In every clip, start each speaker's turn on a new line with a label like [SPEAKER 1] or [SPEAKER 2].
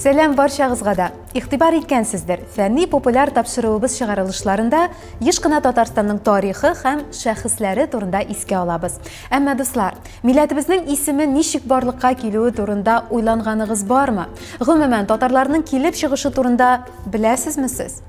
[SPEAKER 1] Сәләм барчагызга да. Игътибар иткәнсездер, фәнни популяр тапшыруыбыз чыгарылышларында еш кына Татарстанның тарихы һәм шәхесләре турында искә алабыз. Әмма дуслар, милләтебезнең исеме ничек барлыкка килүе турында уйланганыгыз бармы? Гомумән, татарларның килеп чыгышы турында беләсезме сез?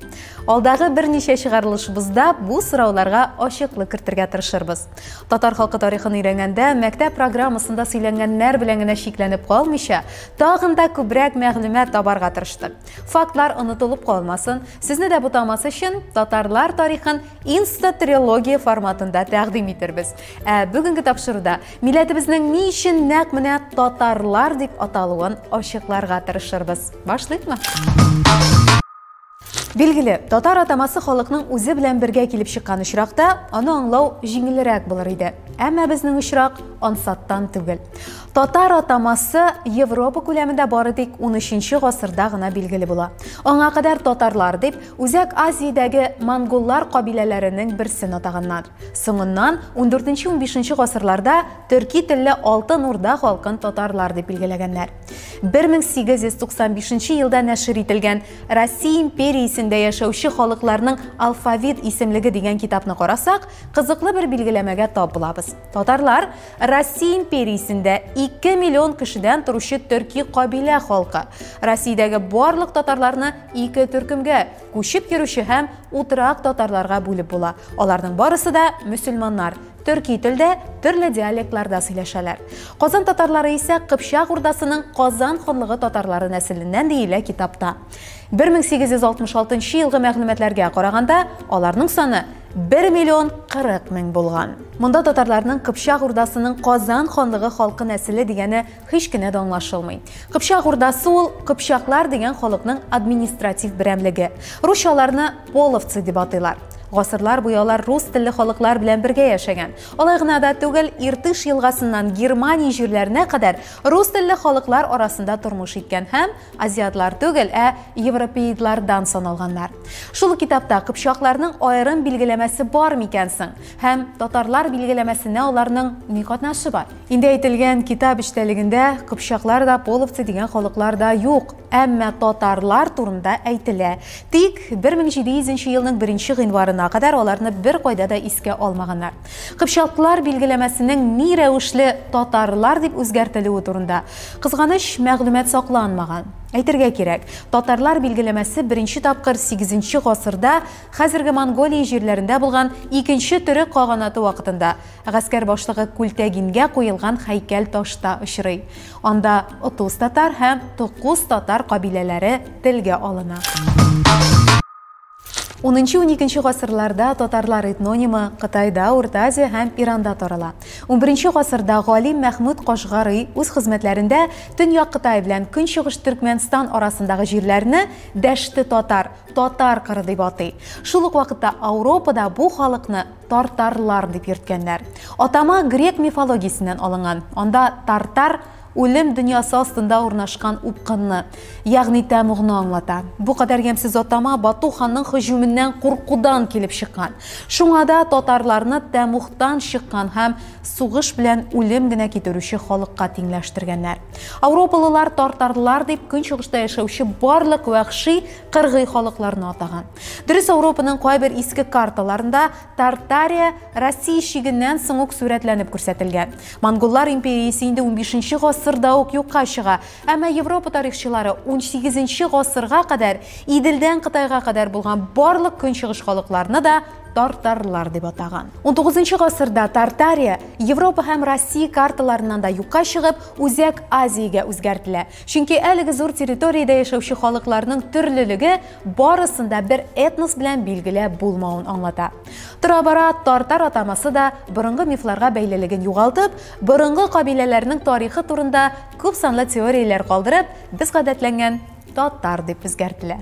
[SPEAKER 1] Алдагы берничә чыгарылышыбызда бу сорауларга ачыклык кертергә тырышырбыз. Татар халкы тарихын өйрәнгәндә, мәктәп программасында сөйләнгәннәр белән генә чикләнеп калмыйча, тагын да күбрәк мәгълүмат табарга тырыштык. Фактлар онытылып калмасын, сезне дә бутамас өчен, татарлар тарихын инстатрилогия форматында тәкъдим итербез. Ә бүгенге тапшыруда милләтебезнең ни өчен нәкъ менә татарлар дип аталуын ачыкларга тырышырбыз. Башлыйкмы? Билгеле, татар атамасы халыкның үзе белән бергә килеп чыккан очракта, аны аңлау җиңелрәк булыр иде. Әмма безнең очрак ансаттан түгел. Татар атамасы Европа күләмендә бары тик 13 гасырда гына билгеле була. Аңа кадәр татарлар дип Үзәк Азиядәге монголлар кабиләләренең берсен атаганнар. Соңыннан 14-15 гасырларда төрки телле Алтын Урда халкын татарлар дип билгеләгәннәр. 1895 елда нәшер ителгән Россия империясендә яшәүче халыкларның алфавит исемлеге дигән китапны карасак, кызыклы бер билгеләмәгә тап булабыз. Татарлар Россия империясендә 2 миллион кешедән торучы төрки кабилә халкы. Россиядәге барлык татарларны ике төркемгә, күчеп йөрүче һәм утрак татарларга бүлеп була. Аларның барысы да мөселманнар, Төрки телдә, төрле диалектларда сөйләшәләр. Казан татарлары исә Кыпчак Урдасының Казан ханлыгы татарлары нәселеннән диелә китапта. 1866 елгы мәгълүматларга караганда, аларның саны 1 миллион 40 мең булган. Монда татарларның Кыпчак Урдасының Казан ханлыгы халкы нәселе дигәне Һич кенә дә аңлашылмый. Кыпчак Урдасы ул кыпчаклар дигән халыкның административ берәмлеге. Русча аларны половцы дип атыйлар. Гасырлар буе алар рус телле халыклар белән бергә яшәгән. Алай гына да түгел, Иртыш елгасыннан Германия җирләренә кадәр рус телле халыклар арасында тормыш иткән һәм азиатлар түгел, ә европеидлардан саналганнар. Шул ук китапта кыпчакларның аерым билгеләмәсе бар микән соң? Һәм татарлар билгеләмәсенә аларның ни катнашы бар? Инде әйтелгән китап эчтәлегендә кыпчаклар да, половцы дигән халыклар да юк, әмма татарлар турында әйтелә. Тик 1700 елның 1 гыйнварына кадәр аларны бер кайда да искә алмаганнар. Кыпчаклар билгеләмәсенең ни рәвешле татарлар дип үзгәртелүе турында, кызганыч, мәгълүмат сакланмаган. Әйтергә кирәк, татарлар билгеләмәсе беренче тапкыр 8 гасырда хәзерге Монголия җирләрендә булган икенче төрек каганаты вакытында, Гаскәр башлыгы Күлтәгингә куелган хәйкәл ташта очрый. Анда Отуз татар һәм Токуз татар кабиләләре телгә алына. Унынчы-уникенче гасырларда татарлар этнонимы Кытайда, Урта Азия һәм Иранда тарала. Унберенче гасырда галим Мәхмүд Кашгари үз хезмәтләрендә Төньяк Кытай белән Көнчыгыш Төркмәнстан арасындагы җирләрне Дәште-татар, Татар кыры дип атый. Шул ук вакытта Ауропада бу халыкны Тартарлар дип йөрткәннәр. Атама грек мифологиясеннән алынган. Анда тартар үлем дөньясы астында урнашкан упкынны, ягъни тәмугны аңлата. Бу кадәр ямьсез атама Бату ханның һөҗүменнән куркудан килеп чыккан. Шуңа да татарларны тәмугтан чыккан һәм сугыш белән үлем генә китерүче халыкка тиңләштергәннәр. Ауропалылар тартарлар дип көнчыгышта яшәүче барлык вәхши кыргый халыкларны атаган. Дөрес Ауропаның кайбер иске карталарында Тартария Россия чигеннән соң ук сурәтләнеп күрсәтелгән. Монголлар империясе инде 15 нче гасырда ук юкка чыга, әмма Европа тарихчылары 18 нче гасырга кадәр Иделдән Кытайга кадәр булган барлык көнчыгыш халыкларны да тартарлар дип атаган. 19 нчы гасырда Тартария Европа һәм Россия карталарыннан да юкка чыгып, Үзәк Азиягә үзгәртелә. Чөнки әлеге зур территориядә яшәүче халыкларның төрлелеге барысын да бер этнос белән билгеләп булмавын аңлата. Тора-бара тартар атамасы да борынгы мифларга бәйлелеген югалтып, борынгы кабиләләрнең тарихы турында күп санлы теорияләр калдырып, без гадәтләнгән татар дип үзгәртелә.